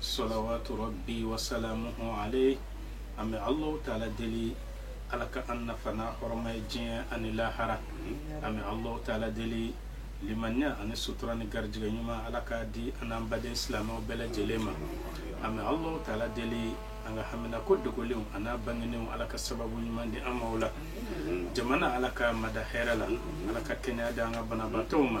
salawatu rabi wasalamuhu alayhi an bɛ alahu taala deli ala ka an nafa n'a hɔrɔma ye diɲɛ ani lahara an bɛ alahu taala deli limaniya ani sutura ni garijɛgɛ ɲuman ala ka di an'an baden silamɛw bɛɛ lajɛlen ma an bɛ alahu taala deli an ka hamina ko dogolenw an'a bangenenw ala ka sababu ɲuman di an ma u la jamana ala k'a mada hɛrɛ la ala ka kɛnɛya di an ka banabaatɔw ma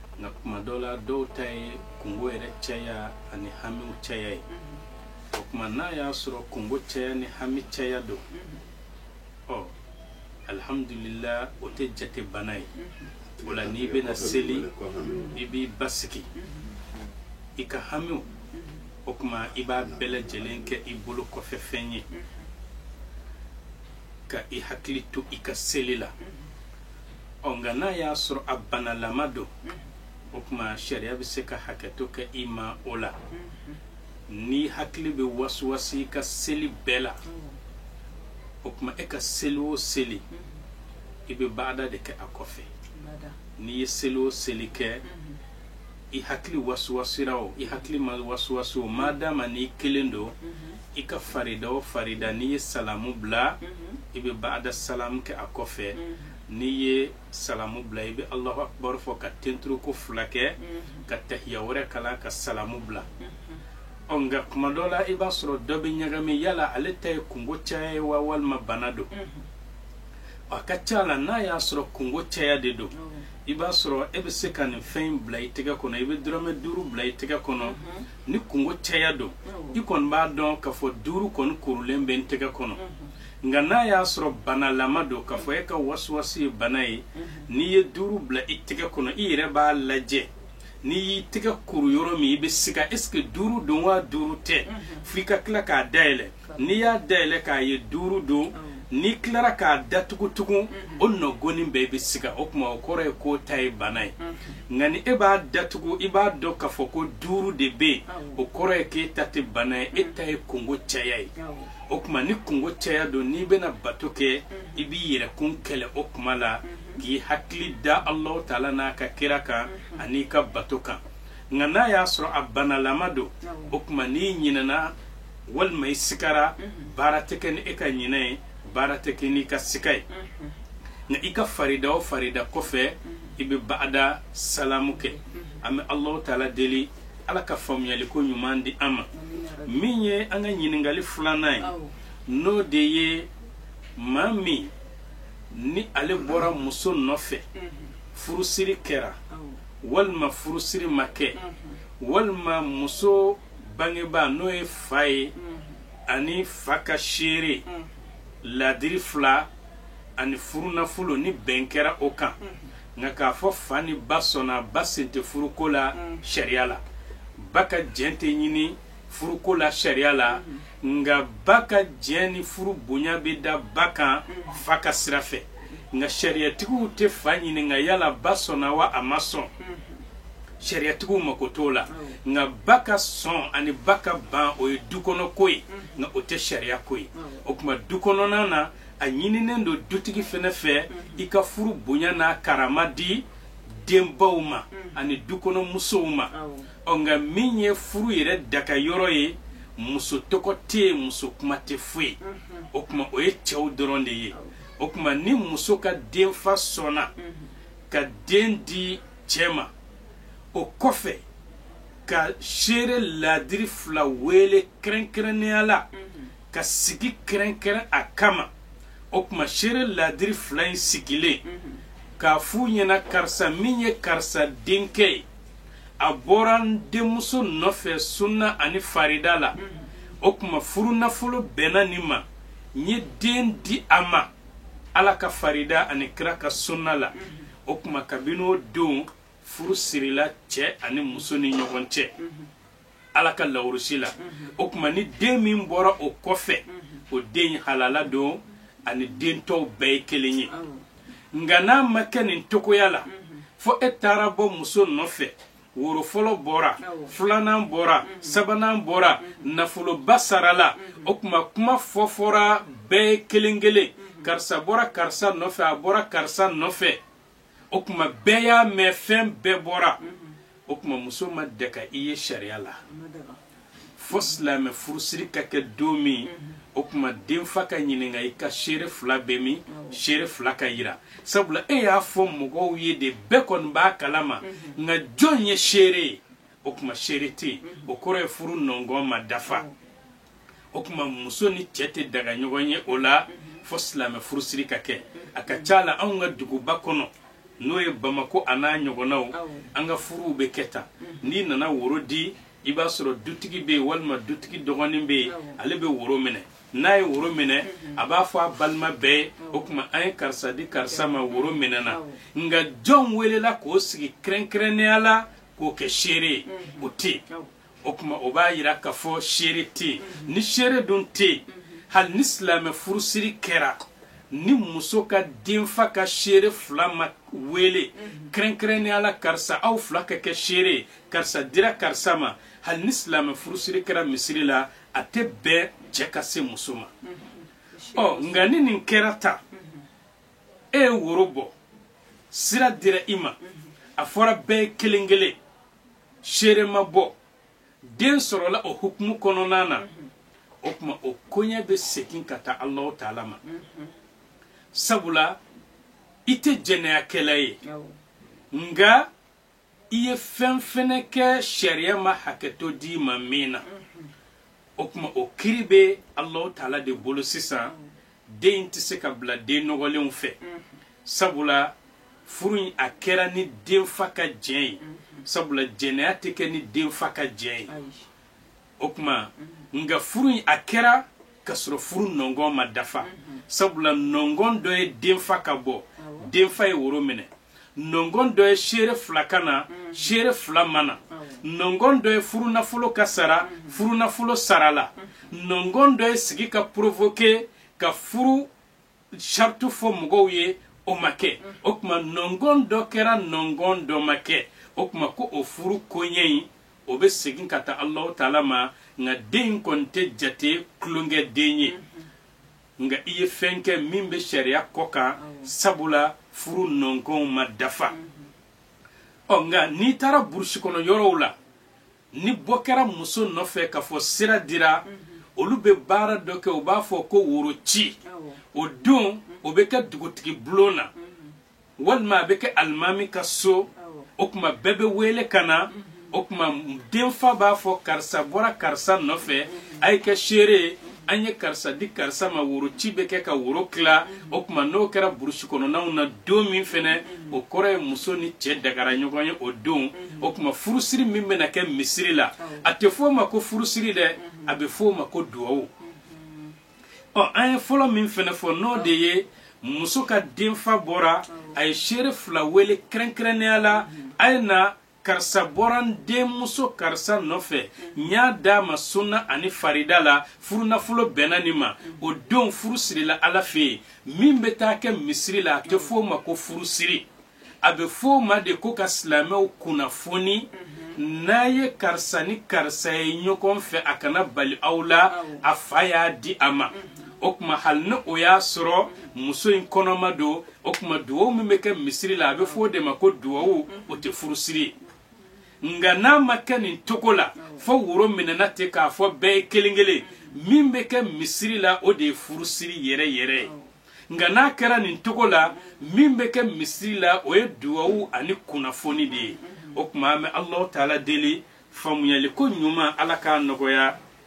nka kuma dɔw la dɔw ta ye kungo yɛrɛ caya ani hamiw caya ye mm-hmm. o kuma n'a y'a sɔrɔ kungo caya ni hami caya don mm-hmm. ɔ alihamudulila o tɛ jate bana ye mm-hmm. o la n'i bɛna seli i b'i basigi i ka hamiw o kuma i b'a bɛɛ lajɛlen kɛ i bolo kɔfɛ fɛn ye ka i hakili to i ka seli la ɔ nka n'a y'a sɔrɔ a banalama don o tuma sariya bɛ se ka hakɛto kɛ i ma o la n'i hakili bɛ wasiwasi i ka seli bɛɛ la o tuma e ka seli o seli i bɛ baada de kɛ a kɔfɛ n'i ye seli o seli kɛ i hakili wasiwasira o i hakili ma wasiwasi o madama n'i kelen don i ka farida o farida n'i ye salamu bila i bɛ baada salamu kɛ a kɔfɛ n'i ye salamu bila i bɛ alahu akibaru fɔ ka tenturuko fila kɛ ka tahiya wɛrɛ kalan ka salamu bila ɔ nka kuma dɔ la i b'a sɔrɔ dɔ bɛ ɲagami yala ale ta ye kungo caya ye wa walima bana don a ka ca la n'a y'a sɔrɔ kungo caya de don i b'a sɔrɔ e bɛ se ka nin fɛn in bila i tɛgɛ kɔnɔ i bɛ dɔrɔmɛ duuru bila i tɛgɛ kɔnɔ mhm. ni kungo caya don i kɔni b'a dɔn k'a fɔ duuru kɔni kurulen bɛ n tɛgɛ kɔnɔ mhm. nka n'a y'a sɔrɔ banalama don k'a fɔ e ka wasiwasi ye bana ye mhm. n'i ye duuru bila i tɛgɛ kɔnɔ i yɛrɛ b'a lajɛ n'i y'i tɛgɛ kuru yɔrɔ min i bɛ siga est ce que duuru don wa duuru tɛ f'i ka tila k'a dayɛlɛ n'i y'a dayɛlɛ k'a ye duuru don n'i tilara k'a datugu tugun o nɔgɔni bɛɛ i bɛ siga o tuma o kɔrɔ ye k'o ta ye bana ye nka ni e b'a datugu i b'a dɔn k'a fɔ ko duuru de bɛ o kɔrɔ ye k'e ta tɛ bana ye e ta ye kungo caya ye o tuma ni kungo caya don n'i bɛna bato kɛ i b'i yɛrɛkun kɛlɛ o tuma la k'i hakili da Alahu taala n'a ka kira kan an'i ka bato kan nka n'a y'a sɔrɔ a banalama don o tuma n'i ɲinɛna walima i sigara baara tɛ kɛ ni e ka ɲinɛ ye baara tɛ kɛ n'i ka siga ye nka i ka farida o farida kɔfɛ i bɛ baada salamu kɛ an bɛ alahu taala deli ala ka faamuyali ko ɲuman di an ma min ye an ka ɲininkakali filanan ye n'o de ye maa min ni ale bɔra muso nɔfɛ furusiri kɛra walima furusiri ma kɛ walima muso bangebaa n'o ye fa ye ani fa ka seere laadiri fila ani furunafolo ni bɛn kɛra o kan nka k'a fɔ fa ni ba sɔnna ba sen tɛ furuko la sariya la ba ka jɛn tɛ ɲini furuko la sariya la nka ba ka jɛn ni furu bonya bɛ da ba kan fa ka sira fɛ nka sariyatigiw tɛ fa ɲininka yala ba sɔnna wa a ma sɔn sariyatigiw mako t'o la nka ba ka sɔn ani ba ka ban o ye du kɔnɔ ko ye nka o tɛ sariya ko ye o tuma dukɔnɔna na a ɲininen don dutigi fana fɛ i ka furu bonya n'a karama di denbaw ma ani du kɔnɔ musow ma ɔ nka min ye furu yɛrɛ daga yɔrɔ ye muso tɔgɔ tɛ yen muso kuma tɛ foyi o tuma o ye cɛw dɔrɔn de ye o tuma ni muso ka denfa sɔnna ka den di cɛ ma o kɔfɛ ka seere laadiri fila weele kɛrɛnkɛrɛnnenya la ka sigi kɛrɛnkɛrɛn a kama o tuma seere laadiri fila in sigilen k'a f'u ɲɛna karisa min ye karisa denkɛ ye a bɔra n denmuso nɔfɛ sunna ani farida la o tuma furunafolo bɛnna nin ma n ye den di a ma ala ka farida ani kira ka sunna la o tuma kabini o don furu sirila cɛ ani muso ni ɲɔgɔn cɛ ala ka lawurusi la o tuma ni den min bɔra o kɔfɛ o den halala don ani den tɔw bɛɛ ye kelen ye nka n'a ma kɛ nin cogoya la fo e taara bɔ muso nɔfɛ woro fɔlɔ bɔra filanan bɔra mm-hmm. sabanan bɔra mm-hmm. nafoloba sarala mm-hmm. o tuma kuma fɔfɔra bɛɛ kelen kelen karisa bɔra karisa nɔfɛ a bɔra karisa nɔfɛ o tuma bɛɛ y'a mɛn fɛn bɛɛ bɔra o tuma muso ma daga i ye sariya la fo silamɛ furusiri ka kɛ don min o tuma denfa ka ɲininka i ka seere fila bɛ min seere fila ka yira sabula e y'a fɔ mɔgɔw ye de bɛɛ kɔni b'a kalama nka jɔn ye seere ye o tuma seere tɛ yen o kɔrɔ ye furu nɔngɔn ma dafa o tuma muso ni cɛ tɛ daga ɲɔgɔn ye o la fo silamɛ furusiri ka kɛ a ka ca la anw ka duguba kɔnɔ n'o ye bamako an'a ɲɔgɔnnaw an ka furuw bɛ kɛ tan n'i nana woro di i b'a sɔrɔ dutigi bɛ yen walima dutigi dɔgɔnin bɛ yen ale bɛ woro minɛ n'a ye woro minɛ a b'a fɔ a balima bɛɛ ye o tuma an ye karisa di karisa ma woro minɛna nka jɔn welela k'o sigi kɛrɛnkɛrɛnnenya la k'o kɛ seere ye o tɛ yen o tuma o b'a yira k'a fɔ seere tɛ yen ni seere dun tɛ yen hali ni silamɛ furusiri kɛra ni muso ka denfa ka seere fila ma wele kɛrɛnkɛrɛnnenya la karisa aw fila ka kɛ seere ye karisa dira karisa ma hali ni silamɛ furusiri kɛra misiri la a tɛ bɛn cɛ ka se muso ma ɔ nka ni nin kɛra ta e ye woro bɔ sira dira i ma a fɔra bɛɛ kelen kelen seere ma bɔ den sɔrɔla o hukumu kɔnɔna na o kuma o koɲɛ bɛ segin ka taa alahu taala ma sabula i tɛ jɛnɛyakɛla ye nka i ye fɛn fɛnɛ kɛ sariya ma hakɛto di i ma min na o kuma o kiri bɛ alahu taala de bolo sisan den in tɛ se ka bila den nɔgɔlenw fɛ sabula furu in a kɛra ni denfa ka jɛn ye sabula jɛnɛya tɛ kɛ ni denfa ka jɛn ye o kuma nka furu in a kɛra ka sɔrɔ furu nɔngɔn ma dafa sabula nɔngɔn dɔ ye denfa ka bɔ denfa ye woro minɛ nɔngɔn dɔ ye seere fila ka na seere fila ma na nɔngɔn dɔ ye furunafolo ka sara furunafolo sarala nɔngɔn dɔ ye sigi ka provoquer ka furu saritu fɔ mɔgɔw ye o ma kɛ o kuma nɔngɔn dɔ kɛra nɔngɔn dɔ ma kɛ o kuma ko o furu koɲɛ in o bɛ segin ka taa alahu taala ma nka den in kɔni tɛ jate kulonkɛ den ye nka i ye fɛn kɛ min bɛ sariya kɔ kan sabula furu nɔngɔnw ma dafa ɔ nka n'i taara burusi kɔnɔ yɔrɔw la ni bɔ kɛra muso nɔfɛ k'a fɔ sira dira olu bɛ baara dɔ kɛ u b'a fɔ ko woro ci o don o bɛ kɛ dugutigi bulon na walima a bɛ kɛ alimami ka so o kuma bɛɛ bɛ wele ka na o kuma denfa b'a fɔ karisa bɔra karisa nɔfɛ a ye kɛ seere ye an ye karisa di karisa ma woro ci bɛ kɛ ka woro tila o kuma n'o kɛra burusi kɔnɔnaw na don min fɛnɛ o kɔrɔ ye muso ni cɛ dagara ɲɔgɔn ye o don o kuma furusiri min bɛna kɛ misiri la a tɛ f'o ma ko furusiri dɛ a bɛ f'o ma ko duwawu ɔ an ye fɔlɔ min fɛnɛ fɔ n'o de ye muso ka denfa bɔra a ye seere fila wele kɛrɛnkɛrɛnnenya la a ye na karisa bɔra n denmuso karisa nɔfɛ n y'a d'a ma sunna ani farida la furunafolo bɛnna nin ma o denw furu sirila ala fɛ yen min bɛ taa kɛ misiri la a tɛ f'o ma ko furusiri a bɛ f'o ma de ko ka silamɛw kunnafoni n'a ye karisa ni karisa ye ɲɔgɔn fɛ a kana bali aw la a fa y'a di a ma o kuma hali ni o y'a sɔrɔ muso in kɔnɔma don o kuma dugawu min bɛ kɛ misiri la a bɛ fɔ o de ma ko dugawu o tɛ furusiri ye nka n'a ma kɛ nin togo la fo woro minɛna ten k'a fɔ bɛɛ ye kelen kelen min bɛ kɛ misiri la o de ye furusiri yɛrɛ yɛrɛ ye nka n'a kɛra nin togo la min bɛ kɛ misiri la o ye dugawu ani kunnafoni de ye o kuma an bɛ alahu taala deli faamuyali ko ɲuman ala k'a nɔgɔya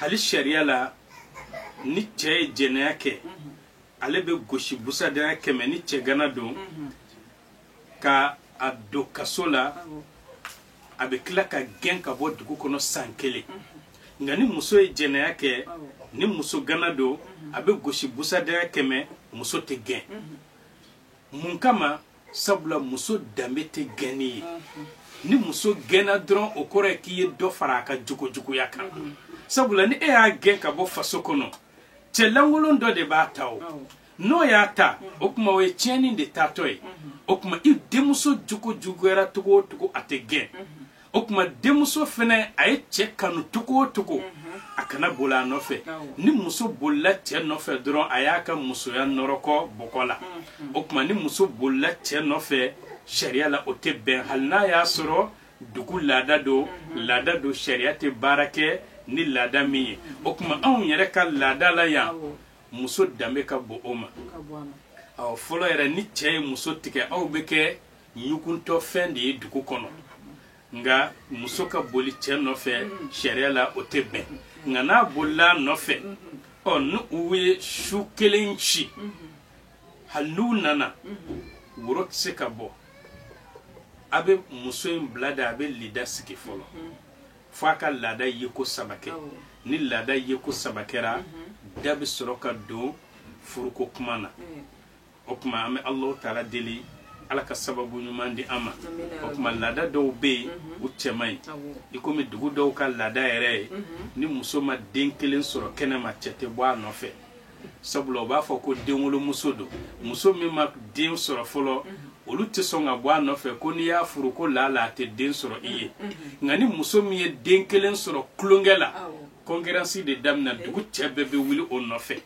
hali sariya la ni cɛ ye jɛnɛya kɛ ale bɛ gosi busadaya kɛmɛ ni cɛgana don ka a don kaso la a bɛ tila ka gɛn ka bɔ dugu kɔnɔ san kelen nka ni muso ye jɛnɛya kɛ ni musogana don a bɛ gosi busadaya kɛmɛ muso tɛ gɛn mun kama sabula muso danbe tɛ gɛnni ye ni muso gɛnna dɔrɔn o kɔrɔ ye k'i ye dɔ fara a ka jogojuguya kan sabula ni e y'a gɛn ka bɔ faso kɔnɔ cɛ lankolon dɔ de b'a ta o n'o y'a ta o kuma o ye tiɲɛni de taatɔ ye o kuma i denmuso jogo juguyara togo o togo a tɛ gɛn o kuma denmuso fɛnɛ a ye cɛ kanu togo o togo a kana boli a nɔfɛ ni muso bolila cɛ nɔfɛ dɔrɔn a y'a ka musoya nɔrɔkɔ bɔgɔ la o kuma ni muso bolila cɛ nɔfɛ sariya la o tɛ bɛn hali n'a y'a sɔrɔ dugu laada don laada don sariya tɛ baara kɛ ni laada min ye o kuma anw yɛrɛ ka laada la yan muso danbe ka bon o ma ɔ fɔlɔ yɛrɛ ni cɛ ye muso tigɛ aw bɛ kɛ ɲuguntɔ fɛn de ye dugu kɔnɔ nka muso ka boli cɛ nɔfɛ sariya la o tɛ bɛn nka n'a bolila nɔfɛ ɔ ni u ye su kelen ci hali n'u nana woro tɛ se ka bɔ a bɛ muso in bila de a bɛ lida sigi fɔlɔ fo a ka laada yeko saba kɛ ni laada yeko saba kɛra da bɛ sɔrɔ ka don furuko kuma na o kuma an bɛ alahu taala deli ala ka sababu ɲuman di an ma o kuma laada dɔw bɛ yen u cɛ man ɲi i komi dugu dɔw ka laada yɛrɛ ye ni muso ma den kelen sɔrɔ kɛnɛma cɛ tɛ bɔ a nɔfɛ sabula u b'a fɔ ko denwolomuso don muso min ma den sɔrɔ fɔlɔ olu tɛ sɔn ka bɔ a nɔfɛ ko n'i y'a furu ko lala a tɛ den sɔrɔ i ye nka ni muso min ye den kelen sɔrɔ tulonkɛ la concurrence de daminɛ dugu cɛ bɛɛ bɛ wuli o nɔfɛ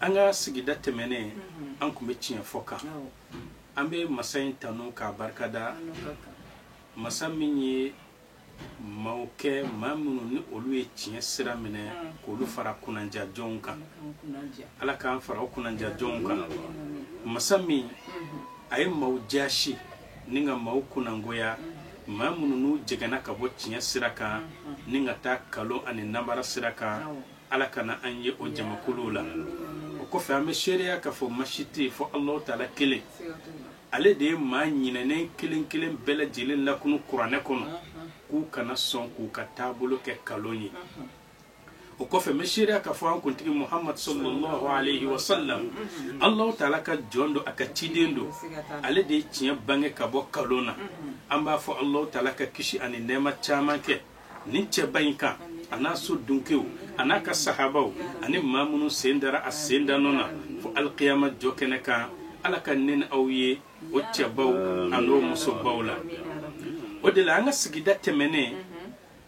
an ka sigida tɛmɛnen an tun bɛ tiɲɛ fɔ kan an bɛ masa in tanu k'a barikada masa min ye maaw kɛ maa minnu ni olu ye tiɲɛ sira minɛ k'olu fara kunnaja jɔnw kan ala k'an fara o kunnaja jɔnw kan masa min a ye maaw jaasi ni ka maaw kunnagoya maa minnu n'u jɛgɛnna ka bɔ tiɲɛ sira kan ni ka taa kalon ani nanbara sira kan ala kana an ye o jamakuluw la o kɔfɛ an bɛ seereya k'a fɔ masi tɛ yen fo alahu taala kelen ale de ye maa ɲinɛnen kelen kelen bɛɛ lajɛlen lakunu kuranɛ kɔnɔ k'u kana sɔn k'u ka taabolo kɛ kalon ye o kɔfɛ n bɛ seereya k'a fɔ an kuntigi muhamadu sallallahu alayhi wa sallam alahu taala ka jɔn don a ka ciden don ale de ye tiɲɛ bange ka bɔ kalon na an b'a fɔ alahu taala ka kisi ani nɛɛma caman kɛ nin cɛba in kan a n'a so dunkew a n'a ka sahabaw ani maa minnu sen dara a sen da nɔ na fo alikiyama jɔ kɛnɛ kan ala ka ne ni aw ye o cɛbaw an'o musobaw la o de la an ka sigida tɛmɛnen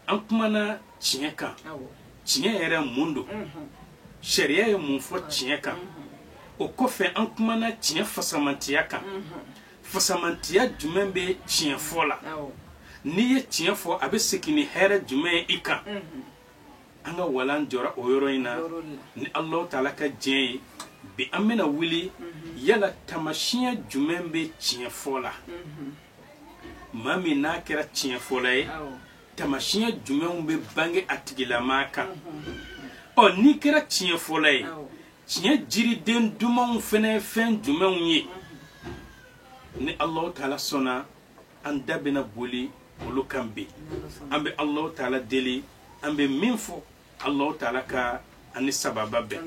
an kumana tiɲɛ kan tiɲɛ yɛrɛ mun don sariya ye mun fɔ tiɲɛ kan o kɔfɛ an kumana tiɲɛ fasamantiya kan fasamantiya jumɛn bɛ tiɲɛ fɔ la n'i ye tiɲɛ fɔ a bɛ segin ni hɛrɛ jumɛn ye i kan an ka walan jɔra o yɔrɔ in na ni alahu taala ka diɲɛ ye bi an bɛna wuli yala tamasiyɛn jumɛn bɛ tiɲɛ fɔ la maa min n'a kɛra tiɲɛ fɔla ye tamasiyɛn jumɛnw bɛ bange a tigilamaa kan ɔ n'i kɛra tiɲɛ fɔla ye tiɲɛ jiriden dumanw fana ye fɛn jumɛnw ye ni alahu taala sɔnna an da bɛna boli olu kan bi an bɛ alahu taala deli an bɛ min fɔ alahu taala ka an ni sawaba bɛn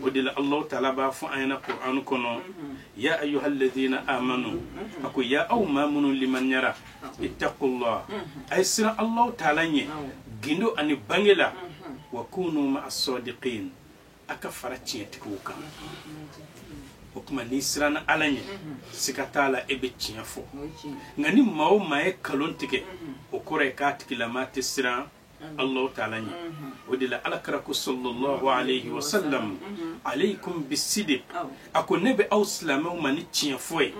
o de la alahu taala b'a fɔ an ɲɛna kur'ani kɔnɔ ya ayuha alladina amanu a ko ya aw maa minnu limaniyara ittaqullah a ye siran alahu taala ɲɛ gindo ani bange la wa kunu ma'a sadiqin a ka fara tiɲɛtigiw kan o tuma n'i siranna ala ɲɛ siga t'a la e bɛ tiɲɛ fɔ nka ni maa o maa ye kalon tigɛ o kɔrɔ ye k'a tigilamaa tɛ siran allahu taala ɲɛ o de la ala kira ko sallallahu alayhi wa sallam alaykum bisidiq a ko ne bɛ aw silamɛw ma ni tiɲɛ fɔ ye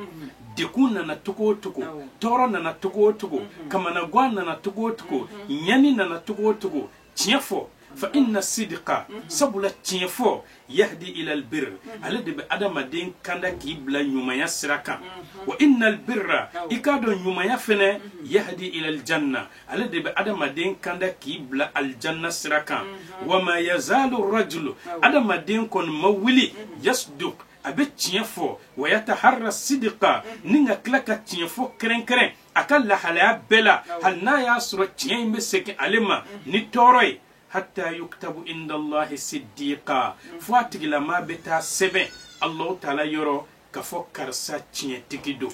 degun nana cogo o cogo tɔɔrɔ nana cogo o cogo kamanagan nana cogo o cogo ɲani nana cogo o cogo tiɲɛ fɔ fa inna sidika sabula tiɲɛ fɔ yahdi ila albir ale de bɛ adamaden kanda k'i bila ɲumanya sira kan wa inna albirra i k'a dɔn ɲumanya fɛnɛ yahdi ila aljanna ale de bɛ adamaden kanda k'i bila aljanna sira kan wa ma yazalu rajulu adamaden kɔni ma wuli yasduk a bɛ tiɲɛ fɔ wa yataharra sidika ni ka tila ka tiɲɛ fɔ kɛrɛnkɛrɛn a ka lahalaya bɛɛ la hali n'a y'a sɔrɔ tiɲɛ in bɛ segin ale ma ni tɔɔrɔ ye hatta yuktabu indallahi siddiqa fo a tigilama bɛ taa sɛbɛn allahu taala yɔrɔ k'a fɔ karisa tiɲɛtigi don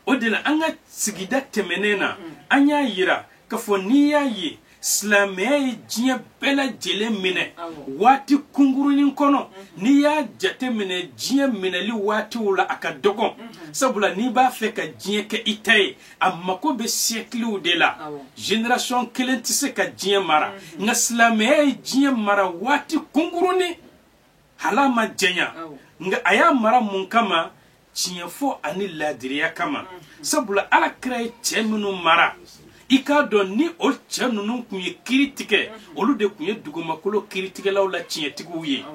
o de la an ka sigida tɛmɛnen na an y'a yira ka fɔ n'i y'a ye silamɛya ye diɲɛ bɛɛ lajɛlen minɛ waati kunkurunin kɔnɔ mhm. n'i y'a jate minɛ diɲɛ minɛli waatiw la a ka dɔgɔn mhm. sabula n'i b'a fɛ ka diɲɛ kɛ i ta ye a mako bɛ siyɛkiliw de la génération kelen tɛ se ka diɲɛ mara mhm. nka silamɛya ye diɲɛ mara waati kunkurunin hal'a ma janya nka a y'a mara mun kama tiɲɛ fɔ ani laadiriya kama sabula ala kira ye cɛ minnu mara i k'a dɔn ni o cɛ ninnu kun ye kiri tigɛ olu de kun ye dugumakolo kiritigɛlaw la tiɲɛtigiw ye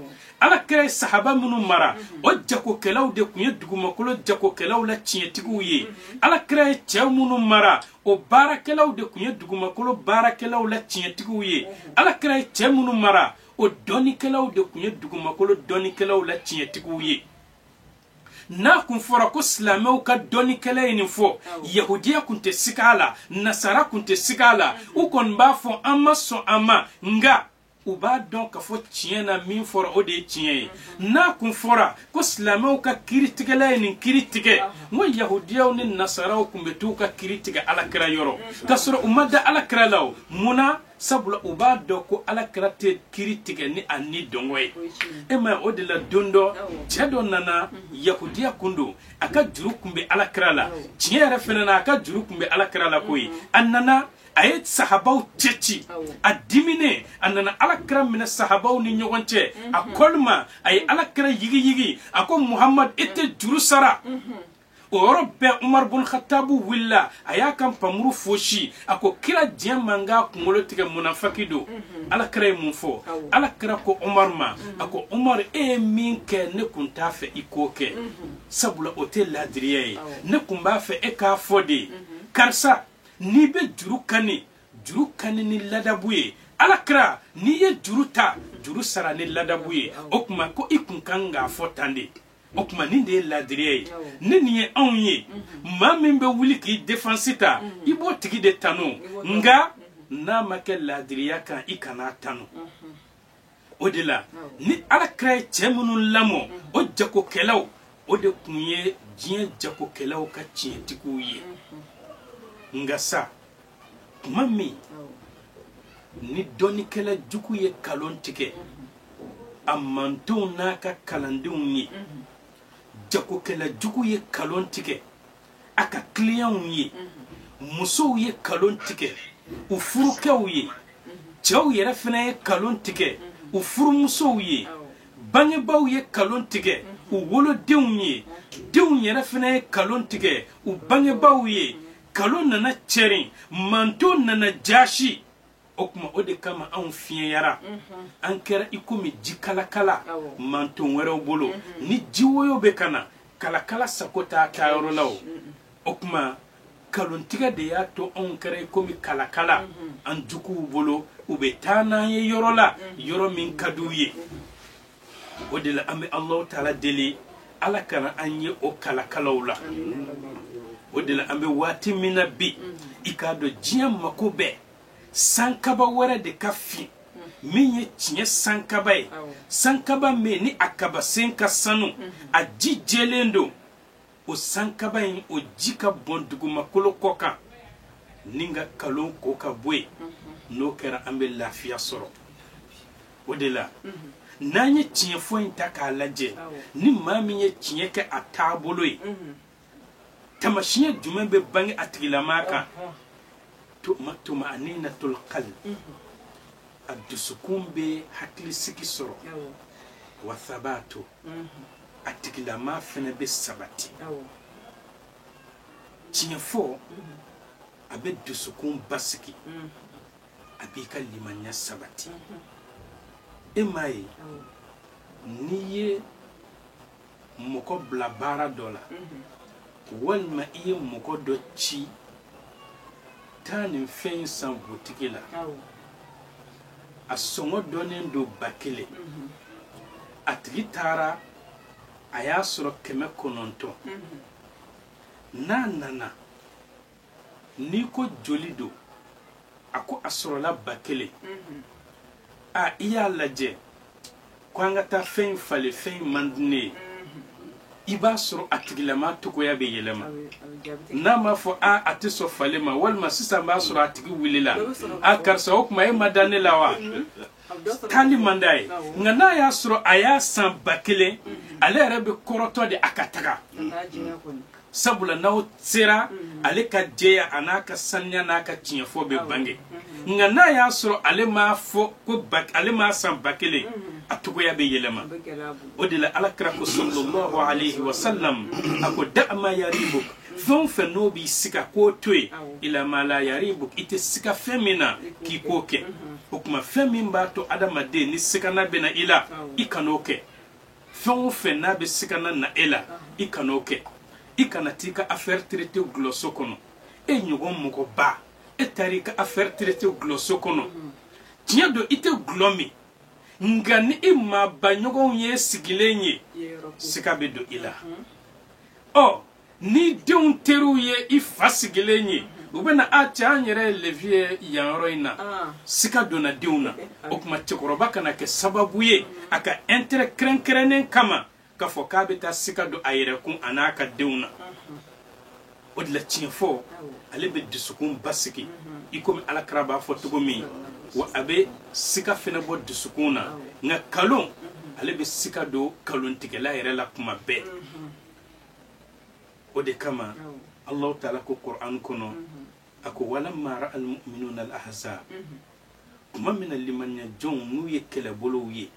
ala kira ye sahaba minnu mara o jagokɛlaw de kun ye dugumakolo jagokɛlaw la tiɲɛtigiw ye ala kira ye cɛ minnu mara o baarakɛlaw de kun ye dugumakolo baarakɛlaw la tiɲɛtigiw ye ala kira ye cɛ minnu mara o dɔnnikɛlaw de kun ye dugumakolo dɔnnikɛlaw la tiɲɛtigiw ye n'a kun fɔra ko silamɛw ka dɔnnikɛla ye nin fɔ yahudiya kun tɛ siga a la nasara kun tɛ siga a la u kɔni b'a fɔ an ma sɔn a ma nka u b'a dɔn ka fɔ tiɲɛ na min fɔra o de ye tiɲɛ ye n'a kun fɔra ko silamɛw ka kiritigɛla ye nin kiri tigɛ n ko yahudiyaw ni nasaraw kun bɛ t'u ka kiri tigɛ alakira yɔrɔ k'a sɔrɔ u ma da alakira la o mun na sabula u b'a dɔn ko ala kira tɛ kiri tigɛ ni a ni dungɔ ye e ma o de la don dɔ cɛ dɔ nana yahudiya kun don a ka juru kun bɛ ala kira la tiɲɛ yɛrɛ fɛnɛ na a ka juru kun bɛ ala kira la koyi a nana a ye sahabaw cɛ ci a diminen a nana ala kira minɛ sahabaw ni ɲɔgɔn cɛ a kɔli ma a ye ala kira yigiyigi a ko muhamadu i tɛ juru sara o yɔrɔ bɛɛ umaru bun khatabu wulila a y'a ka npamuru fosi a ko kira diɲɛ n ma n k'a kunkolo tigɛ munafaki don mhm. ala kira ye mun fɔ ala kira ko umaru ma mhm. a ko umaru e ye min kɛ ne kun t'a fɛ i k'o kɛ mhm. sabula o tɛ laadiriya ye ne kun b'a fɛ e k'a fɔ de karisa n'i bɛ juru kani juru kani ni ladabu ye ala kira n'i ye juru ta juru sara ni ladabu ye o kuma ko i kun kan k'a fɔ tan de o kuma nin de ye laadiriya ye ne nin ye anw ye maa min bɛ wuli k'i defansi ta i b'o tigi de tanu nka n'a ma kɛ laadiriya kan i kan'a tanu o de la ni ala kira ye cɛ minnu lamɔ o jagokɛlaw o de kun ye diɲɛ jagokɛlaw ka tiɲɛtigiw ye nka sa kuma min ni dɔnnikɛla jugu ye kalon tigɛ a mantonw n'a ka kalandenw ye jagokɛla jugu ye kalon tigɛ a ka kiliyanw ye musow ye kalon tigɛ u furukɛw ye cɛw yɛrɛ fɛnɛ ye kalon tigɛ u furumusow ye bangebaaw ye kalon tigɛ u wolodenw ye denw yɛrɛ fɛnɛ ye kalon tigɛ u bangebaaw ye kalon nana cɛrin manton nana jasi o kuma o de kama anw fiɲɛyara mhm. an kɛra i komi ji kalakala manton wɛrɛw bolo mhm. ni ji woyo bɛ ka na kalakala sago t'a taa yɔrɔ la o o kuma kalontigɛ de y'a to an kɛra i komi kalakala mhm. an juguw bolo u bɛ taa n'an ye yɔrɔ la yɔrɔ min ka di u ye o de la an bɛ alahu taala deli ala kana an ye o kalakalaw la o de la an bɛ waati min na bi i k'a dɔn diɲɛ mako bɛ sankaba wɛrɛ de ka fin min ye tiɲɛ sankaba ye sankaba min ni a kabasen ka sanu a ji jɛlen don o sankaba in o ji ka bɔn dugumakolo kɔ kan nin ka kalon ko ka bɔ yen n'o kɛra an bɛ lafiya sɔrɔ o de la n'an ye tiɲɛfɔ in ta k'a lajɛ ni maa min ye tiɲɛ kɛ a taabolo ye tamasiɲɛ jumɛn bɛ bange a tigilamaa kan tuma tuma'aninatul qalb a dusukun bɛ hakilisigi sɔrɔ wa thabatu a tigilamaa fana bɛ sabati tiɲɛfɔ mm-hmm. a bɛ dusukun basigi mm-hmm. a b'i ka limaniya sabati mm-hmm. e m'a ye n'i ye mɔgɔ bila baara dɔ la walima i ye mɔgɔ dɔ ci taa nin fɛn in san butigi la a sɔngɔ dɔnnen don ba kelen a tigi taara a y'a sɔrɔ kɛmɛ kɔnɔntɔn n'a nana n'i ko joli don a ko a sɔrɔla ba kelen a i y'a lajɛ ko an ka taa fɛn in falen fɛn in man di ne ye i b'a sɔrɔ a tigilamaa cogoya bɛ yɛlɛma n'a m'a fɔ a a tɛ sɔn falen ma walima sisan b'a sɔrɔ a tigi wulila a karisa o kuma e ma da ne la wa taali man d'a ye nka n'a y'a sɔrɔ a y'a san ba kelen ale yɛrɛ bɛ kɔrɔtɔ de a ka taga sabula n'aw sera ale ka jɛya a n'a ka saniya n'a ka tiɲɛfɔ bɛ bange nka n'a y'a sɔrɔ ale m'a fɔ ko ale m'a san ba kelen a cogoya bɛ yɛlɛma o de la ala kira ko sallallahu alaihi wa sallam a ko da' ma yaribuk fɛn o fɛn n'o b'i siga k'o to yen ila ma la yaribuk i tɛ siga fɛn min na k'i k'o kɛ o kuma fɛn min b'a to adamaden ni sigana bɛ na i la i kan'o kɛ fɛn o fɛn n'a bɛ sigana na e la i kana o kɛ i kana t'i ka affaire traité gulɔso kɔnɔ e ɲɔgɔn mɔgɔba e taara i ka affaire traité gulɔso kɔnɔ tiɲɛ don i tɛ gulɔ min nka ni i maabaɲɔgɔnw y'i sigilen ye siga bɛ don i la ɔ ni denw teriw ye i fa sigilen ye u bɛna a cɛ an yɛrɛ ye levi ye yan yɔrɔ in na ah. sika donna denw na o tuma cɛkɔrɔba kana kɛ sababu ye a ka intérêt kɛrɛnkɛrɛnnen kama k'a fɔ k'a bɛ taa sika don a yɛrɛ kun a n'a ka denw na o de la tiɲɛ fɔ ale bɛ dusukun basigi i komi alakira b'a fɔ cogo min wa a bɛ sika fana bɔ dusukun na nka kalon ale bɛ sika don kalontigɛla yɛrɛ la kuma bɛɛ o de kama allahu taala ko qur'an kɔnɔ a ko walamma ra'a almu'minuna alahzab tuma min na limaniyajɔnw n'u ye kɛlɛbolow ye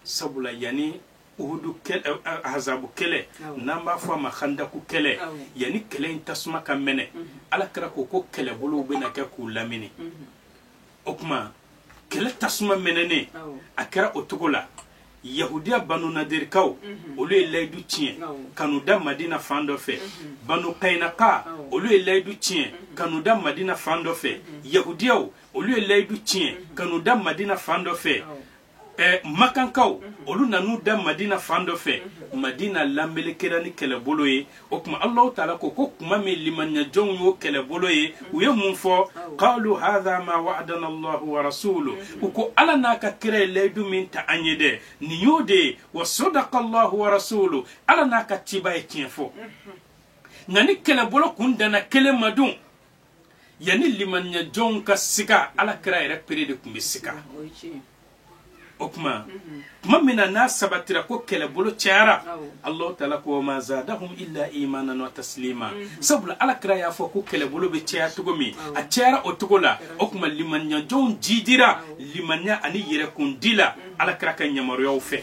sabula yanni uhudu kɛlɛ ahazabu kɛlɛ n'an b'a fɔ a ma handaku kɛlɛ yanni kɛlɛ in tasuma ka mɛnɛ ala kira ko ko kɛlɛbolow bɛna kɛ k'u lamini o tuma kɛlɛ tasuma mɛnɛnen a kɛra o cogo la yahudiya banu nadirikaw mhm. olu ye layidu tiɲɛ ka n'u da madina fan dɔ fɛ mhm. banu kayinaka olu ye layidu tiɲɛ mhm. ka n'u da madina fan dɔ fɛ yahudiyaw olu ye layidu tiɲɛ ka n'u da madina fan dɔ fɛ ɛ makankaw olu nan'u da madina fan dɔ fɛ madina lanbele kɛra ni kɛlɛbolo ye o tuma allahu taala ko ko kuma min limaniyajɔnw y'o kɛlɛbolo ye u ye mun fɔ qalu hadha ma wa'adana allahu wa rasulu u ko ala n'a ka kira ye layidu min ta an ye dɛ nin y'o de ye wa sadaqa allahu wa rasulu ala n'a ka ciba ye tiɲɛ fɔ nka ni kɛlɛbolo kun danna kelen ma dun yanni limaniyajɔnw ka siga ala kira yɛrɛ pere de tun bɛ siga o tuma tuma min na n'a sabatira ko kɛlɛbolo cayara allahu taala ko wa ma zadahum illa imanan wa taslima sabula ala kira y'a fɔ ko kɛlɛbolo bɛ caya cogo min a cayara o cogo la o tuma limaniyajɔnw jidira limaniya ani yɛrɛkundi la ala kira ka yamaruyaw fɛ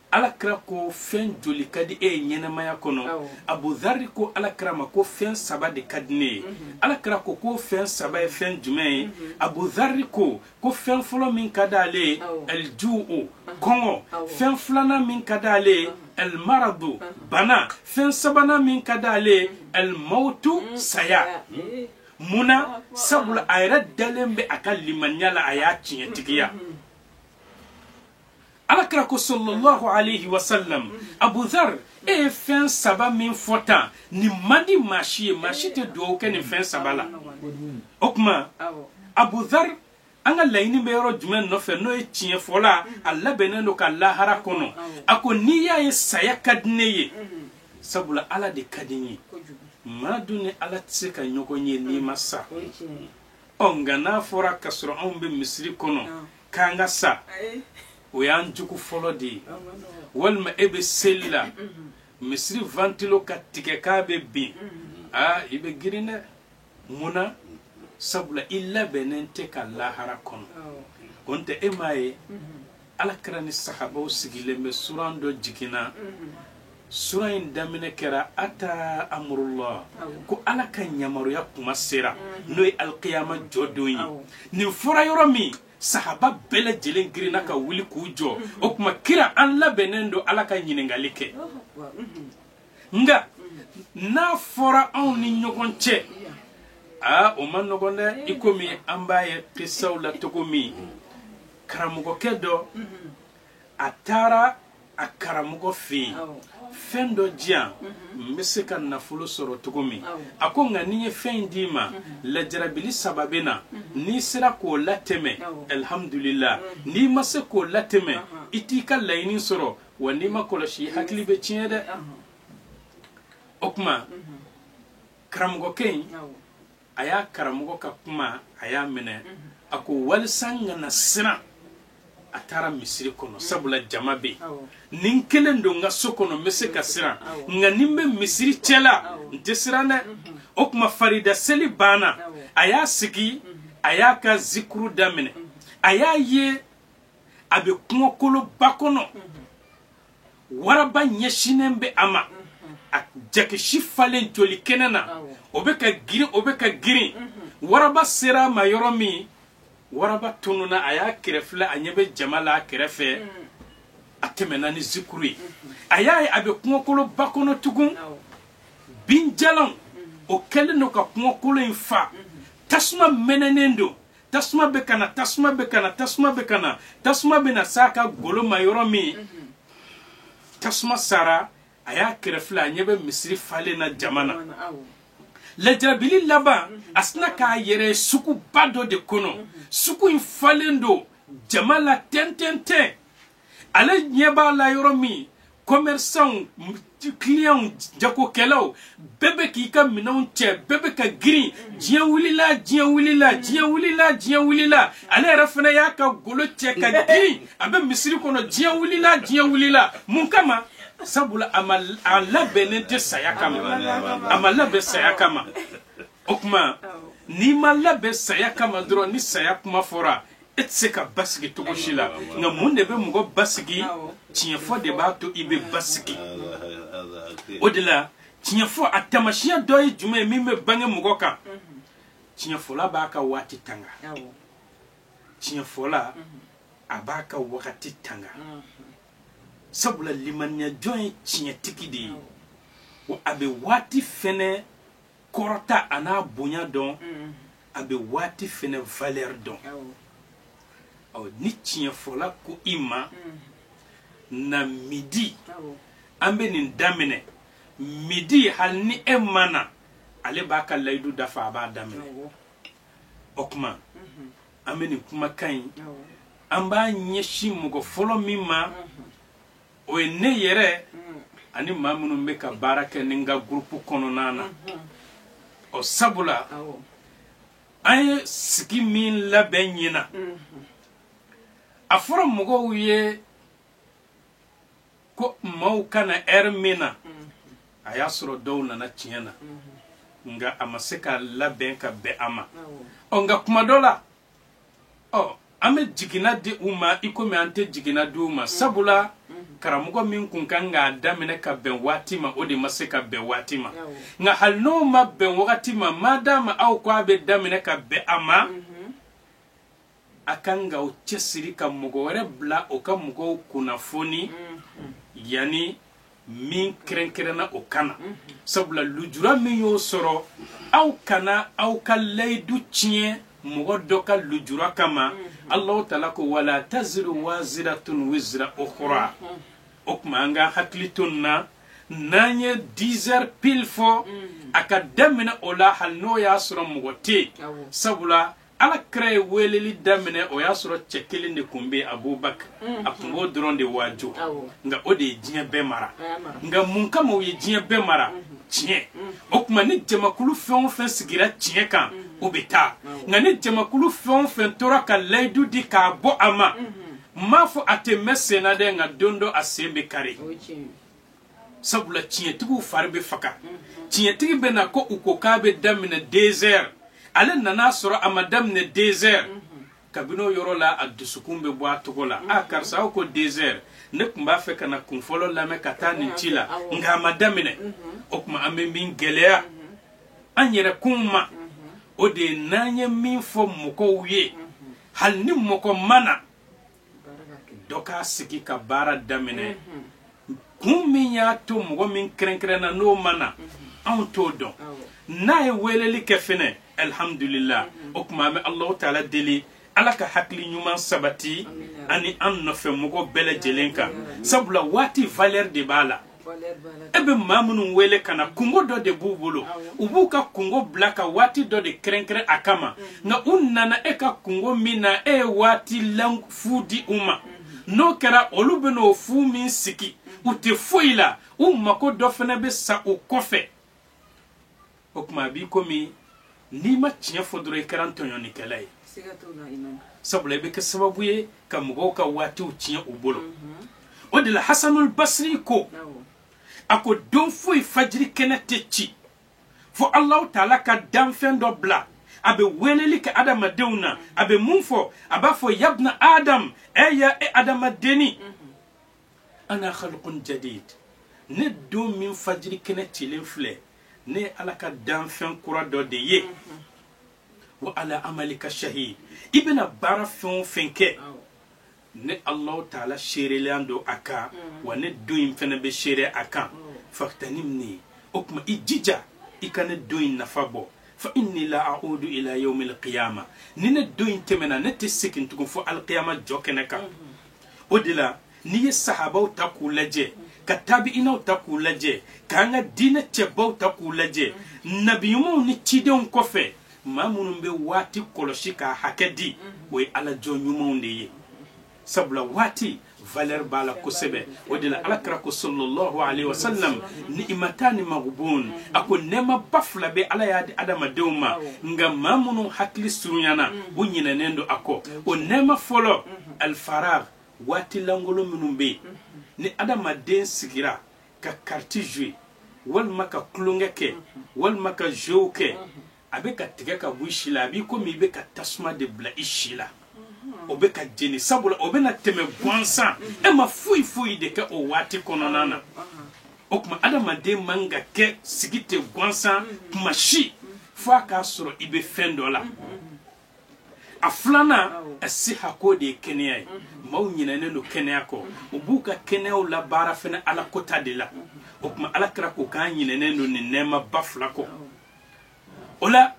ala kira ko fɛn joli ka di e ye ɲɛnamaya kɔnɔ abuzari ko ala kira ma ko fɛn saba de ka di ne ye mhm. ala kira ko ko fɛn saba ye fɛn jumɛn ye mhm. abuzari ko ko fɛn fɔlɔ min ka di ale ye alju'u kɔngɔ fɛn filanan min ka di ale ye almaradu bana fɛn sabanan min ka di ale ye almawtu mm, saya eh. munna sabula a yɛrɛ dalen bɛ a ka limaniya la a y'a tiɲɛtigiya. alakira ko sallallahu alayhi wa sallam abuzar e ye fɛn saba min fɔ tan nin man di maa si ye maa si tɛ dugawu kɛ nin fɛn saba la o tuma abuzar an ka laɲini bɛ yɔrɔ jumɛn nɔfɛ n'o ye tiɲɛ fɔla a labɛnnen don ka lahara kɔnɔ a ko n'i y'a ye saya ka di ne ye sabula ala de ka di n ye maa dun ni ala tɛ se ka ɲɔgɔn ye n'i ma sa ɔ nka n'a fɔra ka sɔrɔ anw bɛ misiri kɔnɔ k'an ka sa o y'an jugu fɔlɔ de ye walima e bɛ seli la misiri vantilo ka tigɛ k'a bɛ bin aa i bɛ girin dɛ mun na sabula i labɛnnen tɛ ka lahara kɔnɔ o tɛ e m'a ye ala kira ni sahabaw sigilen bɛ suran dɔ jiginna Suran in daminɛ kɛra ata amurullah ko ala ka yamaruya kuma sera n'o ye alikiyama jɔdon ye nin fɔra yɔrɔ min sahaba bɛɛ lajɛlen girinna ka wuli k'u jɔ o tuma kira an labɛnnen don ala ka ɲininkakali kɛ nka n'a fɔra anw ni ɲɔgɔn cɛ aa o man nɔgɔn dɛ i komi an b'a ye kisaw la cogo min karamɔgɔkɛ dɔ a taara a karamɔgɔ fɛ yen fɛn dɔ di yan n bɛ se ka nafolo sɔrɔ cogo min a ko nka ni n ye fɛn in d'i ma lajarabili saba bɛ na n'i sera k'o latɛmɛ alihamudulila n'i ma se k'o latɛmɛ i t'i ka laɲini sɔrɔ wa n'i m'a kɔlɔsi i hakili bɛ tiɲɛ dɛ o tuma karamɔgɔkɛ in a y'a karamɔgɔ ka kuma a y'a minɛ a ko walisa n kana siran a taara misiri kɔnɔ sabula jama bɛ yen ni n kelen don n ka so kɔnɔ n bɛ se ka siran nka ni n bɛ misiri cɛla n tɛ siran dɛ o tuma farida seli banna a y'a sigi a y'a ka zikuru daminɛ a y'a ye a bɛ kungokoloba kɔnɔ waraba ɲɛsinnen bɛ a ma a jakisi falen joli kɛnɛ na o bɛ ka girin o bɛ ka girin waraba sera a ma yɔrɔ min waraba tununa a y'a kɛrɛfilɛ a ɲɛ bɛ jama la a kɛrɛfɛ a tɛmɛna ni zikuru ye a y'a ye a bɛ kungokoloba kɔnɔ tugun binjalanw o kɛlen don ka kungokolo in fa tasuma mɛnɛnen don tasuma bɛ ka na tasuma bɛ ka na tasuma bɛ ka na tasuma bɛ na s'a ka golo ma yɔrɔ min mhm. tasuma sara a y'a kɛrɛfilɛ a ɲɛ bɛ misiri falen na jama na lajarabili laban mhm. a sina k'a yɛrɛ suguba dɔ de kɔnɔ mhm. sugu in falen don jama la tɛntɛntɛn ale ɲɛ b'a la yɔrɔ min commerçants clients jagokɛlaw bɛɛ bɛ k'i ka minɛnw cɛ bɛɛ bɛ ka girin diɲɛ wulila diɲɛ wulila diɲɛ wulila diɲɛ wulila ale yɛrɛ fana y'a ka golo cɛ ka girin a bɛ misiri kɔnɔ diɲɛ wulila diɲɛ wulila mun kama sabula a ma a labɛnnen tɛ saya kama a ma labɛn saya kama o tuma n'i ma labɛn saya kama dɔrɔn ni saya kuma fɔra e tɛ se ka basigi cogo si la nka mun de bɛ mɔgɔ basigi tiɲɛfɔ de b'a to i bɛ basigi o de la tiɲɛfɔ a tamasiyɛn dɔ ye jumɛn ye min bɛ bange mɔgɔ kan tiɲɛfɔla b'a ka waati tanga tiɲɛfɔla a b'a ka wagati tanga sabula limaniyajɔn ye tiɲɛtigi de ye wa a bɛ waati fɛnɛ kɔrɔta a n'a bonya dɔn mm. a bɛ waati fɛnɛ valeur dɔn ɔ ni tiɲɛfɔla ko i ma mm. na midi an bɛ nin daminɛ midi hali ni e ma na ale b'a ka layidu dafa a b'a daminɛ o tuma mm-hmm. an bɛ nin kumakan in an b'a ɲɛsin mɔgɔ fɔlɔ min ma mm-hmm. o ye ne yɛrɛ ani maa minnu bɛ ka baara kɛ ni n ka gurupu kɔnɔna na ɔ sabula an ye sigi min labɛn ɲina a fɔra mɔgɔw ye ko maaw ka na ɛri min na a y'a sɔrɔ dɔw nana tiɲɛ na nka a ma se ka labɛn ka bɛn a ma ɔ nka kuma dɔ la ɔ an bɛ jiginna di u ma i komi an tɛ jiginna di u ma sabula karamɔgɔ min kun kan k'a daminɛ ka bɛn waati ma o de ma se ka bɛn waati ma nka hali n'o ma bɛn wagati ma ma d'a ma aw ko a bɛ daminɛ ka bɛn a ma a kan ka o cɛsiri ka mɔgɔ wɛrɛ bila o ka mɔgɔw kunnafoni yanni min kɛrɛnkɛrɛnna o ka na sabula lujura min y'o sɔrɔ aw kana aw ka layidu tiɲɛ mɔgɔ dɔ ka lujura kama allahu taala ko wala taziru waziratun wizra ukhra o tuma an ka hakili to nin na n'an ye dizɛr pil fɔ a ka daminɛ o la hali n'o y'a sɔrɔ mɔgɔ tɛ yen sabula ala kira ye weleli daminɛ o y'a sɔrɔ cɛ kelen de tun bɛ abubakar mm. a tun b'o dɔrɔn de waajo nka o de ye diɲɛ bɛɛ mara nka mun kama o ye diɲɛ bɛɛ mara mm-hmm. tiɲɛ mm-hmm. o tuma ni jamakulu fɛn o fɛn sigira tiɲɛ kan mm-hmm. o bɛ taa nka ni jamakulu fɛn o fɛn tora ka layidu di k'a bɔ a ma n m'a fɔ a tɛ mɛn senna dɛ nka don dɔ a sen bɛ kari sabula tiɲɛtigiw fari bɛ faga tiɲɛtigi bɛ na ko u ko k'a bɛ daminɛ dezɛr ale nana sɔrɔ a ma daminɛ dezɛr kabini o yɔrɔ la a dusukun bɛ bɔ a tɔgɔ la a karisa aw ko dezɛr ne tun b'a fɛ ka na kun fɔlɔ lamɛn ka taa nin ci la nka a ma daminɛ o tuma an bɛ min gɛlɛya an yɛrɛ kun ma o de ye n'an ye min fɔ mɔgɔw ye hali ni mɔgɔ ma na dɔ k'a sigi ka baara daminɛ kun min y'a to mɔgɔ min kɛrɛnkɛrɛnna n'o ma na an t'o dɔn n'a ye weleli kɛ fɛnɛ alhamdulila o tuma an bɛ alahu taala deli ala ka hakili ɲuman sabati an ni an nɔfɛ mɔgɔ bɛɛ lajɛlen kan sabula waati valeur de b'a la e bɛ maa minnu wele ka na kungo dɔ de b'u bolo u b'u ka kungo bila ka waati dɔ de kɛrɛnkɛrɛn a kama mm-hmm. nka u nana e ka kungo min na e ye waati lan fu di u ma mm-hmm. n'o kɛra olu bɛn'o fu min sigi u tɛ foyi la u mako dɔ fɛnɛ bɛ sa u kɔfɛ o tuma a b'i komi n'i ma tiɲɛ fɔ dɔrɔn i kɛra tɔɲɔnnikɛla ye sabula i bɛ kɛ sababu ye ka mɔgɔw ka waatiw tiɲɛ u bolo mhm. o de la hasanul basri ko a ko don foyi fajiri kɛnɛ tɛ ci fo alahu taala ka danfɛn dɔ bila a bɛ weleli kɛ adamadenw na a bɛ mun fɔ a b'a fɔ yabna adam ɛ ya e adamadenni mhm. ana khalqun jadid ne don min fajiri kɛnɛ cilen filɛ ne ye ala ka danfɛn kura dɔ de ye wa ala amalika shahid i bɛna baara fɛn o fɛn kɛ ne alahu taala seerelen don a kan wa ne don in fɛnɛ bɛ seere a kan faghtanimni o tuma i jija i ka ne don in nafa bɔ fa inni la a'udu ila yawmil qiyama ni ne don in tɛmɛna ne tɛ segin tugun fo alqiyama jɔ kɛnɛ kan o de la n'i ye sahabaw ta k'u lajɛ ka tabiinaw ta k'u lajɛ k'an ka diinɛ cɛbaw ta k'u lajɛ nabiɲumanw ni cidenw kɔfɛ maa minnu bɛ waati kɔlɔsi k'a hakɛ di o ye ala jɔn ɲumanw de ye sabula waati valeur b'a la kosɛbɛ o de la ala kira ko sallallahu alaihi wasallam ni'matani maghbun a ko nɛɛmaba fila bɛ ala y'a di adamadenw ma nka maa minnu hakili surunyana u ɲinɛnen don a kɔ o nɛɛma fɔlɔ alfaragh waati lankolon minnu bɛ ni adamaden sigira ka carte jouer walima ka tulonkɛ kɛ walima ka jeuw kɛ a bɛ ka tigɛ ka bɔ i si la a b'i komi i bɛ ka tasuma de bila i si la o bɛ k'a jeni sabula o bɛna tɛmɛ gansan e ma foyi foyi de kɛ o waati kɔnɔna na o tuma adamaden man kan ka sigi ten gansan kuma si fo a k'a sɔrɔ i bɛ fɛn dɔ la a filanan as-sihha k'o de ye kɛnɛya ye maaw ɲinɛnen don kɛnɛya kɔ u b'u ka kɛnɛyaw labaara fɛnɛ ala kota de la o tuma ala kira ko k'an ɲinɛnen don nin nɛɛmaba fila kɔ o la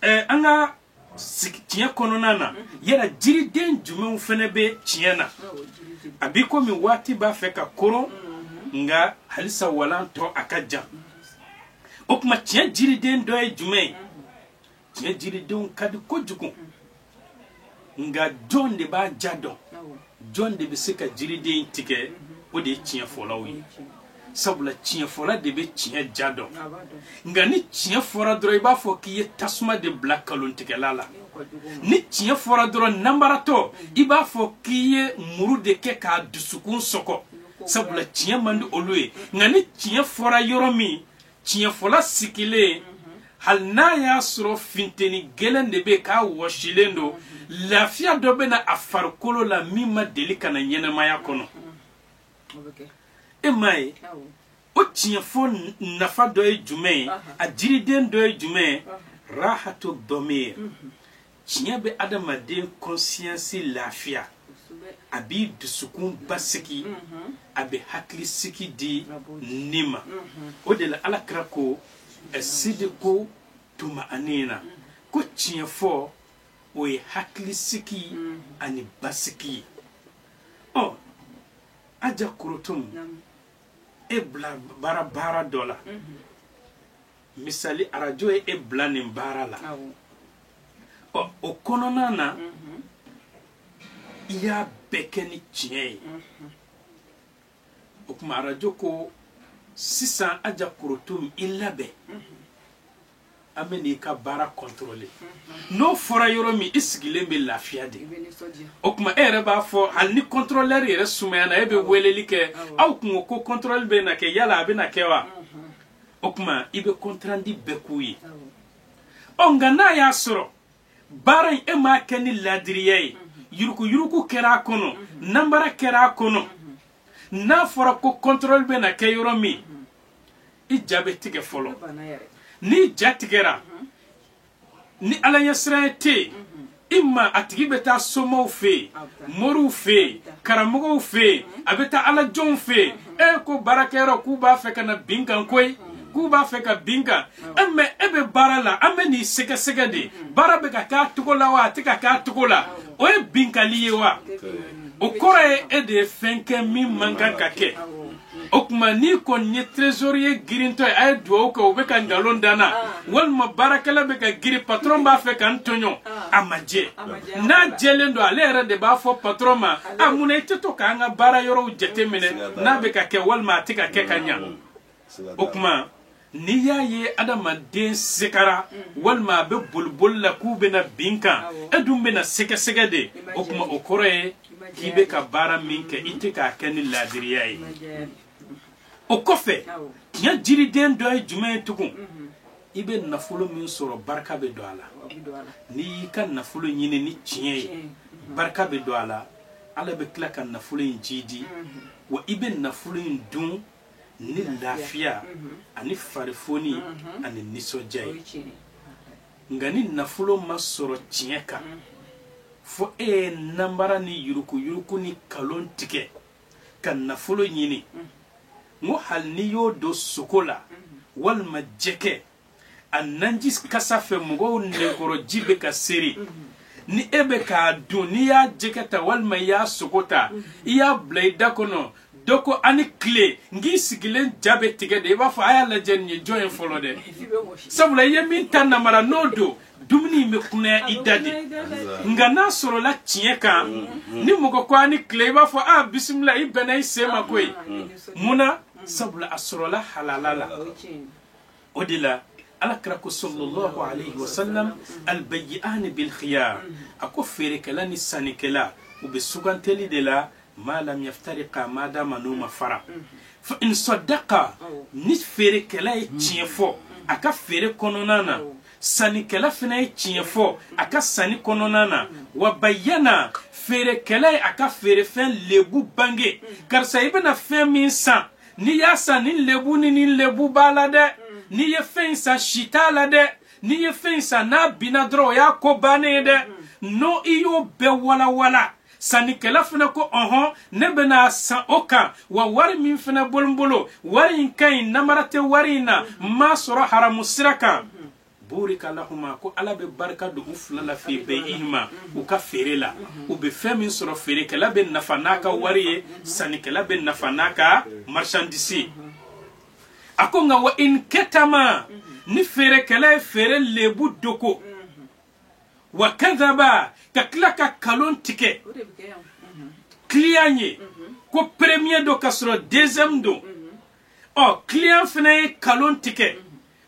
eh, an ka tiɲɛ kɔnɔna na yala jiriden jumɛnw fɛnɛ bɛ tiɲɛ na a b'i komi waati b'a fɛ ka koron nka halisa walan tɔ a ka jan o tuma tiɲɛ jiriden dɔ ye jumɛn ye tiɲɛ jiridenw ka di kojugu nka jɔn de b'a diya dɔn jɔn de bɛ se ka jiriden tigɛ o de ye tiɲɛ fɔlaw ye sabula tiɲɛ fɔla de bɛ tiɲɛ diya dɔn nka ni tiɲɛ fɔra dɔrɔn i b'a fɔ k'i ye tasuma de bila kalontigɛla la ni tiɲɛ fɔra dɔrɔn nanbaratɔ i b'a fɔ k'i ye muru de kɛ k'a dusukun sɔgɔ sabula tiɲɛ man di olu ye nka ni tiɲɛ fɔra yɔrɔ min tiɲɛfɔla sigilen hali n'a y'a sɔrɔ finteni gɛlɛn de bɛ k'a wɔsilen don lafiya dɔ bɛ na a farikolo la min ma deli ka na ɲɛnamaya kɔnɔ e m'a ye o tiɲɛfɔ nafa dɔ ye jumɛn ye a jiriden dɔ ye jumɛn ye rahatu dɔmir tiɲɛ bɛ adamaden conscience lafiya a b'i dusukun basigi mhm. a bɛ hakilisigi di ni ma mhm. o de la ala kira ko sidiku tumaanina mhm. ko tiɲɛ fɔ o ye hakilisigi ani basigi ye ɔ aja korotom e bila baara baara dɔ la misali arajo ye e bila nin baara la ɔ o kɔnɔna na mhm. i y'a bɛɛ kɛ ni tiɲɛ ye mhm. o tuma arajo ko sisan aja korotom i labɛn mhm. an bɛ n'i ka baara contrôler n'o fɔra yɔrɔ min i sigilen bɛ lafiya de o tuma e yɛrɛ b'a fɔ hali ni contrôleur yɛrɛ sumayana e bɛ weleli kɛ aw kun ko ko contrôle bɛ na kɛ yala a bɛ na kɛ wa. o tuma i bɛ compte rendu bɛɛ k'u ye ɔ nka n'a y'a sɔrɔ baara in e m'a kɛ ni laadiriya ye yurukuyuruku kɛra a kɔnɔ nanbara kɛra a kɔnɔ n'a fɔra ko contrôle bɛ na kɛ yɔrɔ min i ja bɛ tigɛ fɔlɔ n'i ja tigɛra ni ala ɲɛsiran ye tɛ yen i ma a tigi bɛ taa somaw fɛ yen moriw fɛ yen karamɔgɔw fɛ yen a bɛ taa ala jɔnw fɛ yen e ko baarakɛyɔrɔ k'u b'a fɛ ka na bin n kan koyi k'u b'a fɛ ka bin n kan e mɛ e bɛ baara la an bɛ n'i sɛgɛsɛgɛ de baara bɛ ka k'a cogo la wa a tɛ ka k'a cogo la o ye binkali ye wa o kɔrɔ ye e de ye fɛn kɛ min man kan ka kɛ o tuma n'i kɔni ye trésorier girintɔ ye a ye dugawu kɛ o bɛ ka nkalon da n na walima baarakɛla bɛ ka girin patron b'a fɛ ka n tɔɲɔ a ma jɛ n'a jɛlen don ale yɛrɛ de b'a fɔ patron ma a mun na i tɛ to k'an ka baara yɔrɔw jateminɛ n'a bɛ ka kɛ walima a tɛ ka kɛ ka ɲa o tuma n'i y'a ye adamaden segara mm. walima a bɛ boliboli la k'u bɛna bin n kan e dun bɛna sɛgɛsɛgɛ de o tuma o kɔrɔ ye k'i bɛ ka baara min kɛ i tɛ k'a kɛ ni laadiriya ye o kɔfɛ tiɲɛ jiriden dɔ ye jumɛn ye tugun mm-hmm. i bɛ nafolo min sɔrɔ barika bɛ don a la n'i y'i ka nafolo ɲini ni tiɲɛ ye mm-hmm. barika bɛ don a la ala bɛ tila ka nafolo in jiidi mm-hmm. wa i bɛ nafolo in dun ni lafiya ani farifoni ani nisɔndiya ye nka ni nafolo ma sɔrɔ tiɲɛ kan fo e ye nanbara ni yuruguyurugu ni kalon tigɛ ka nafolo ɲini n ko hali n'i y'o don sogo la walima jɛgɛ a nanji kasa fɛ mɔgɔw nɛnkɔrɔ ji bɛ ka seri ni e bɛ k'a dun n'i y'a jɛgɛ ta walima i y'a sogo ta i y'a bila i da kɔnɔ dɔ ko a ni tile n k'i sigilen ja bɛ tigɛ de i b'a fɔ a y'a lajɛ nin ye jɔn ye fɔlɔ dɛ sabula i ye min ta namara n'o don dumuni in bɛ kunaya i da de nka n'a sɔrɔla tiɲɛ kan ni mɔgɔ ko a ni tile i b'a fɔ a bisimila i bɛnna i sen ma koyi mun na sabula a sɔrɔla halala la o de la ala kira ko sallallahu alayhi wa sallam albayyi'ani bil khiyar a ko feerekɛla ni sannikɛla u bɛ suganteli de la ma lam yaftariqa ma dama n'u ma fara fa in sadaqa ni feerekɛla ye tiɲɛ fɔ a ka feere kɔnɔna na sannikɛla fana ye tiɲɛ fɔ a ka sanni kɔnɔna na wa bayyana feerekɛla ye a ka feerefɛn lebu bange karisa i bɛna fɛn min san n'i y'a san nin lebu ni nin lebu b'a la dɛ n'i ye fɛn in san si t'a la dɛ n'i ye fɛn in san n'a binna dɔrɔn o y'a ko bannen ye dɛ n'o i y'o bɛɛ walawala sannikɛla fana ko ɔhɔn ne bɛn'a san o kan wa wari min fana bolo n bolo wari in ka ɲi namara tɛ wari in na n m'a sɔrɔ haramu sira kan burika lahuma ko ala bɛ barika don u fila la fi bay'ihima u ka feere la u bɛ fɛn min sɔrɔ feerekɛla bɛ nafa n'a ka wari ye sannikɛla bɛ nafa n'a ka marchandise a ko nka wa in katama ni feerekɛla ye feere lebu dogo wa kadhaba ka tila ka kalon tigɛ kiliyan ye ko premier don ka sɔrɔ deuxième don ɔ kiliyan fana ye kalon tigɛ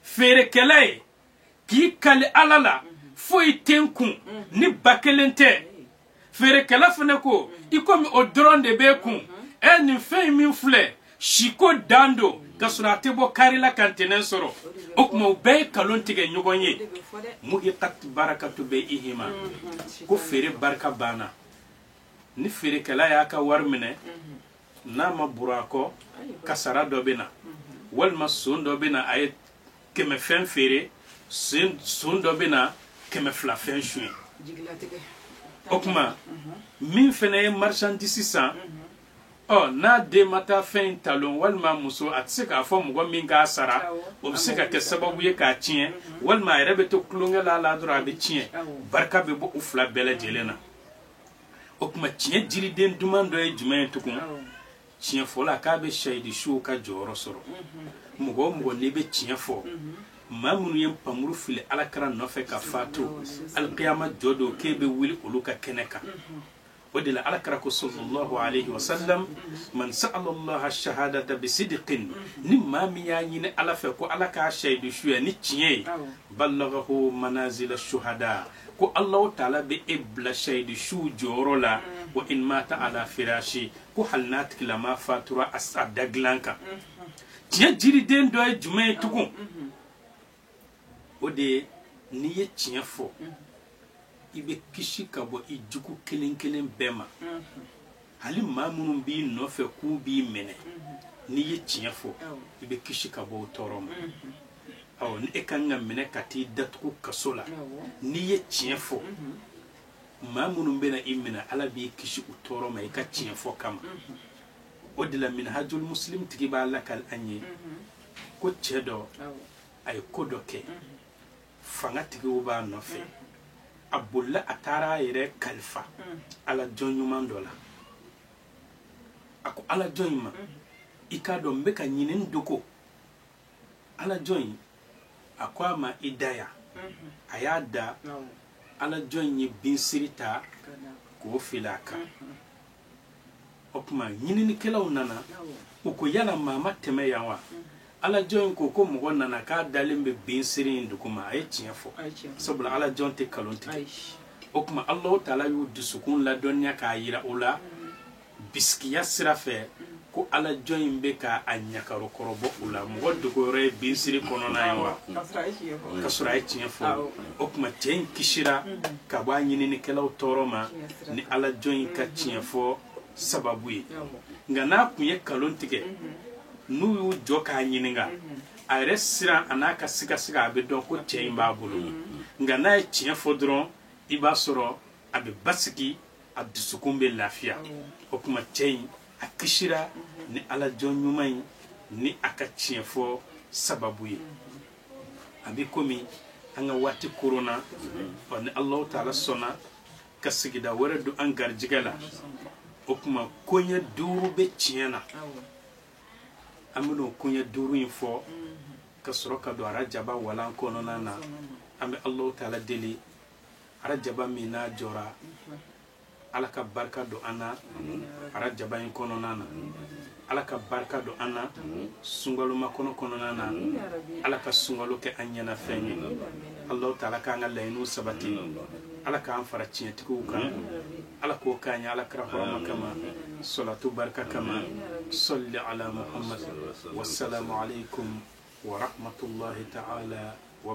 feerekɛla ye k'i kali ala la foyi tɛ n kun ni ba kelen tɛ feerekɛla fana ko i komi o dɔrɔn de b'e kun ɛɛ nin fɛn min filɛ siko dan don ka sɔrɔ a tɛ bɔ kari la ka ntɛnɛn sɔrɔ o tuma u bɛɛ ye kalon tigɛ ɲɔgɔn ye muhiqat barakatu bay'ihima ko feere barika banna ni feerekɛla y'a ka wari minɛ n'a ma buru a kɔ kasara dɔ bɛ na walima son dɔ bɛ na a ye kɛmɛ fɛn feere son dɔ bɛ na kɛmɛ fila fɛn suɲɛ o tuma min fana ye marchandise san ɔ n'a den ma taa fɛn in talon walima muso a tɛ se k'a fɔ mɔgɔ min k'a sara o bɛ se ka kɛ sababu ye k'a tiɲɛ walima a yɛrɛ bɛ to tulonkɛ la la dɔrɔn a bɛ tiɲɛ barika bɛ bɔ u fila bɛɛ lajɛlen na o tuma tiɲɛ jiriden duman dɔ ye jumɛn ye tugun tiɲɛ fɔla k'a bɛ shahidu suw ka jɔyɔrɔ sɔrɔ mɔgɔ o mɔgɔ n'i bɛ tiɲɛ fɔ maa minnu ye npanmuru fili alakira nɔfɛ ka faatu alikiyama jɔ don k'e bɛ wuli olu ka kɛnɛ kan o de la alakira ko sallallahu alayhi wa sallam man sa'ala allaha shahadata bi sidqin ni maa min y'a ɲini ala fɛ ko ala k'a shahidu suya ni tiɲɛ ye ballagahu manazila shuhada ko alahu taala bɛ e bila shahidu su jɔyɔrɔ la wa in mata ala firashi ko hali n'a tigilama fatura a da dilan kan tiɲɛ jiriden dɔ ye jumɛn ye tugun o de ye n'i ye tiɲɛ fɔ i bɛ kisi ka bɔ i jugu kelen kelen bɛɛ ma hali maa minnu b'i nɔfɛ k'u b'i minɛ n'i ye tiɲɛ fɔ i bɛ kisi ka bɔ o tɔɔrɔ ma ɔ ni e ka kan ka minɛ ka t'i datugu kaso la n'i ye tiɲɛ fɔ maa minnu bɛna i minɛ ala b'i kisi u tɔɔrɔ ma i ka tiɲɛ fɔ kama o de la minhajul muslim tigi b'a lakali an ye ko cɛ dɔ a ye ko dɔ kɛ fangatigiw b'a nɔfɛ a bolila a taara a yɛrɛ kalifa ala jɔn ɲuman dɔ la a ko ala jɔn in ma i k'a dɔn n bɛ ka ɲini n dogo ala jɔn in a ko a ma i da yan a y'a da ala jɔn in ye binsiri ta k'o fili a kan o tuma ɲininikɛlaw nana u ko yala maa ma tɛmɛ yan wa ala jɔn in ko ko mɔgɔ nana k'a dalen bɛ binsiri in duguma a ye tiɲɛ fɔ sabula ala jɔn tɛ kalon tigɛ o tuma alahu taala y'u dusukun ladɔnniya k'a yira o la bisikiya sira fɛ ko ala jɔn in bɛ ka a ɲakaro kɔrɔbɔ u la mɔgɔ dogoyɔrɔ ye binsiri kɔnɔna ye wa ka sɔrɔ a ye tiɲɛ fɔ o tuma cɛ in kisira ka bɔ a ɲininikɛlaw tɔɔrɔ ma ni ala jɔn in ka tiɲɛ fɔ sababu ye nka n'a kun ye kalon tigɛ n'u y'u jɔ k'a ɲininka a yɛrɛ siran a n'a ka sigasiga a bɛ dɔn ko cɛ in b'a bolo nka n'a ye tiɲɛ fɔ dɔrɔn i b'a sɔrɔ a bɛ basigi a dusukun bɛ lafiya o tuma cɛ in a kisira ni ala jɔn ɲuman in ni a ka tiɲɛ fɔ sababu ye a bɛ komi an ka waati koronna ɔ ni alahu taala sɔnna ka sigida wɛrɛ don an garijɛgɛ la o tuma koɲɛ duuru bɛ tiɲɛ na an bɛna o koɲɛ duuru in fɔ ka sɔrɔ ka don arajaba walan kɔnɔna na an bɛ alahu taala deli arajaba min n'a jɔra ala ka barika don an na arajaba in kɔnɔna na ala ka barika don an na sunkalomakɔnɔ kɔnɔna na ala ka sunkalo kɛ an ɲɛnafɛn ye alahu taala k'an ka laɲiniw sabati ala k'an fara tiɲɛtigiw kan ala k'o k'an ye ala kira hɔrɔma kama salatu barika kama sali ala muhamadu wasalamu alekumu waramatulahi taala wa